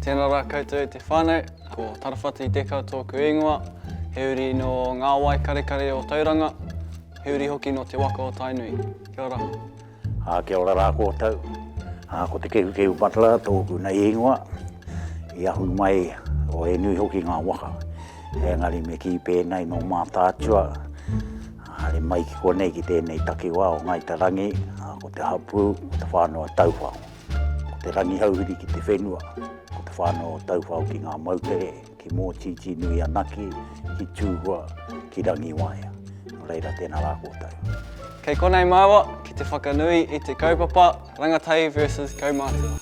Tēnā rā koutou e te whānau, ko Tarawhati Deka tōku īngoa, he uri nō ngā wai karekare o Tauranga, he uri hoki nō te waka o Tainui. Kia ora. Ā, kia ora rā koutou. Ā, ko Te Kehukehu Butler tōku nei īngoa. I ahu mai, o, he nui hoki ngā waka. Engari me kī pēnei nō Mātaatua, haere mai ki konei ki tēnei takiwā o Ngāi Te Rangi, ā, ko te hapū, ko te whānau a Tauwhao. Ko te rangihauhiri ki te whenua, ko te whānau o Tauwhao ki ngā moutere, ki Mōtītīnui anake, ki Tūhua, ki Rangiwaea. Nō reira, tēnā rā koutou. Kei konei māua ki te whakanui i te kaupapa Rangatahi versus Kaumātua.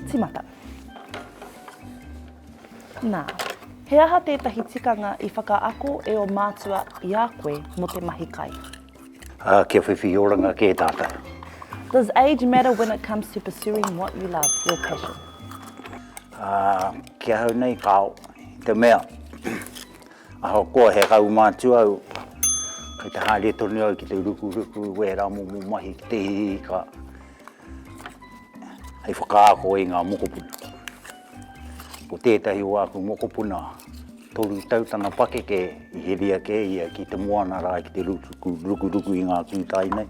Tīmata. Nā, he aha tētahi tikanga i whakaako e ō mātua i a koe mō te mahi kai? Ā, kia whiwhi oranga kē tātou. Does age matter when it comes to pursuing what you love, your passion? Ā, ki ahau nei, kāo. I te mea, ahakoa he rauma atu au, kei te haere tonu au ki te rukuruku i wērā momo mahi ki te hihi ka. hei whakaako i ngā mokopuna. Ko tētahi o āku mokopuna, toru tau tana pakeke i heria kē ia ki te moana rā ki te rukuruku i ngā kūtai nei.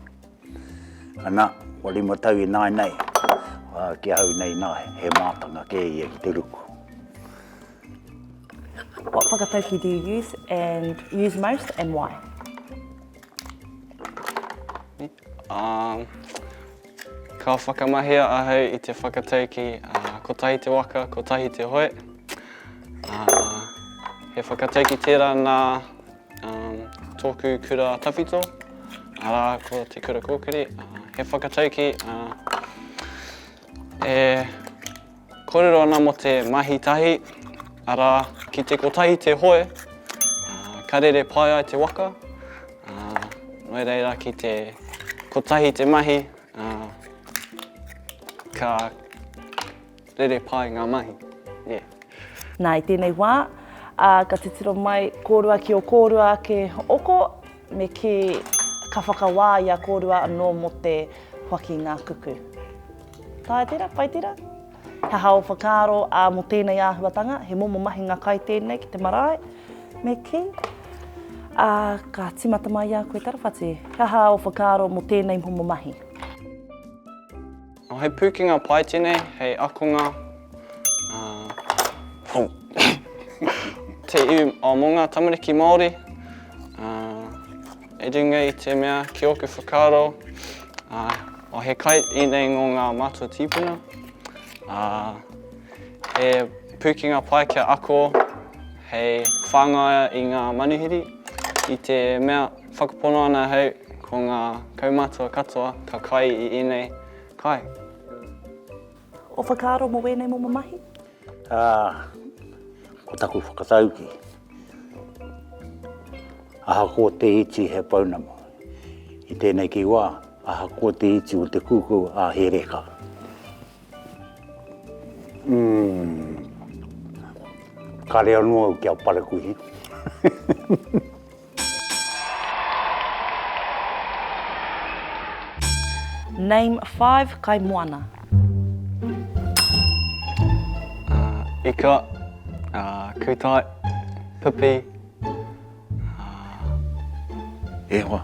Ana, kua rima tau i nāi nei, ā, ki ahau nei nā, he mātanga kē ia ki te ruku. What whakataukī do you use and use most and why? Ka whakamahia ahau i te whakataukī kotahi te waka, kotahi te hoe. He whakataukī tērā nā tōku kura tawhito, arā ko Te Kura Kōkiri. He whakataukī e… Kōrero ana mō te mahi tahi, arā, ki te kotahi te hoe, ka rere pai ai te waka, nō reira ki te kotahi te mahi, ka rere pai ngā mahi. Nā, i tēnei wā, ka titiro mai, kōrua ki ō kōrua ake oko. Me kī, Ka whakawā i a kōrua anō mō te whaki ngā kuku. Taea tērā? Pai tērā? He aha ō whakaaro, ā, mō tēnei āhuatanga, he momo mahinga kai tēnei ki te marae? Me kī, Ā, ka tīmata mai i a koe tarawhati, he aha ō whakaaro mō tēnei momo mahi? He pūkenga pai tēnei hei akonga te iwi mō ngā tamariki Māori i runga i te mea ki ōku whakaaro he kai ēnei ngō ngā mātua tīpuna. He pūkenga pai kia ako hei whāngaia i ngā manuhiri i te mea Whakapono ana ahau ko ngā kaumātua katoa ka kai i ēnei kai. Ō whakaaro mō wēnei momo mahi? Ā, ko taku whakatauki, ahakoa te iti he pounamu, i tēnei ki wā, ahakoa te iti o te kuku ā, he reka. Kare anō au ki a Parakuihi. Name five kaimoana. Ika, Kūtai, Pipi. Ā, e hoa,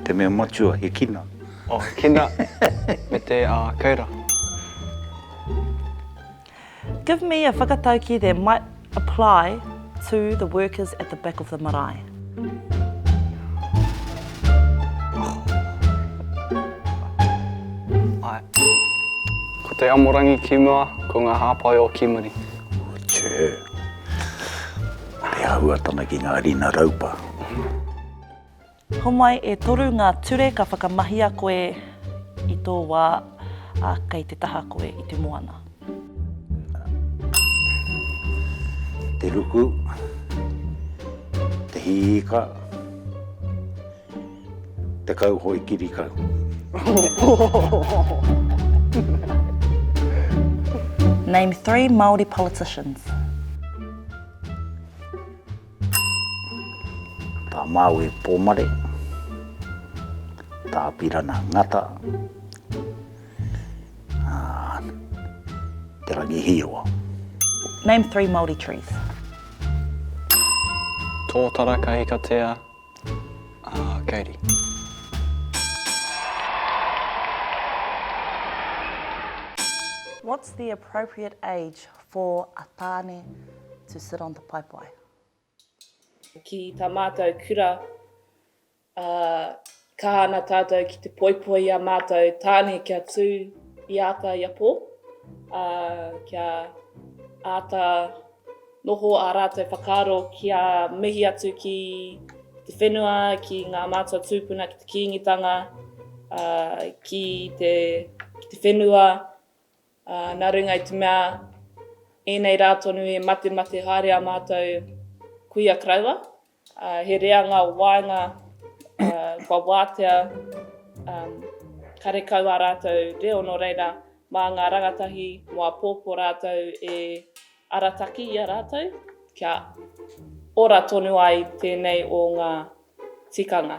te mea matua, he kina. Oh, he kina, me te, ā, kei ra. Give me a whakatauki that might apply to the workers at the back of the marae. Ae. Ko te amorangi ki mua, ko nga hapai o Kimuri. Tjee. He āhuatanga ki ngā rina raupa. Homai e toru ngā ture ka whakamahia koe i tō wā, ā, kei te taha koe i te moana. Te ruku, te hiika. tekau hoi kiri kau. Name three Māori politicians. Tā Māui Pōmare, tā Apirana Ngata, Te Rangi Hīroa. Name three Māori trees. Tōtara Kahikatea, Aa, Katie. What's the appropriate age for a tāne to sit on the paepae? Ki tā mātou kura, kaha ana tātou ki te poipoi i a mātou tāne kia tū i āta i a pō, kia āta Noho ā rātou whakaaro kia mihi atu ki te whenua, ki ngā mātua tūpuna, ki te Kīngitanga, ā, ki te, ki te whenua, ā, nā runga i te mea, ēnei rā tonu e matemate haere ā mātou kuia karaua. He reanga o waenga kua wātea karekau ā rātou reo nō reira mā ngā rangatahi mō apōpō rātou e arataki i a rātou kia ora tonu ai tēnei o ngā tikanga.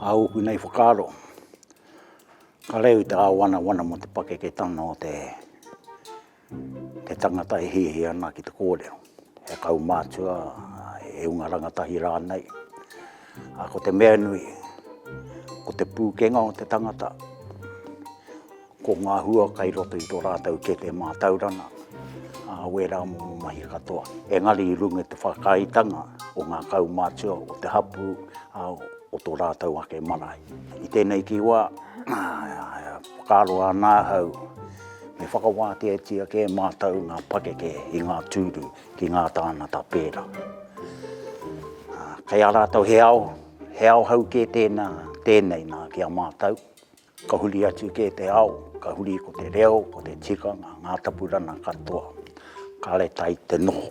Ka ūku nei whakaaro, ka reo i te Kāwanawana mō te pakeketanga o te He tangata e hiahia ana ki te kōrero, he kaumātua, he hunga rangatahi rānei. Ā, ko te mea nui, ko te pūkenga o te tangata, ko ngā hua kai roto i tō rātou kete mātauranga, ā, wērā momo mahi katoa. Engari i runga i te whakaaetanga o ngā kaumātua, o te hapū, ā, o tō rātou ake marae. I tēnei ki wā, Whakaaro ana ahau, me whakawāteatia kē mātou ngā pakeke i ngā tūru ki ngā tāngata pērā. Kei a rātou he ao, he ao hou kē tēnā, tēnei nā ki a mātou. Ka huri atu kē te ao, ka huri ko te reo, ko te tikanga, ngā tapurana katoa. Kāre tai te noho,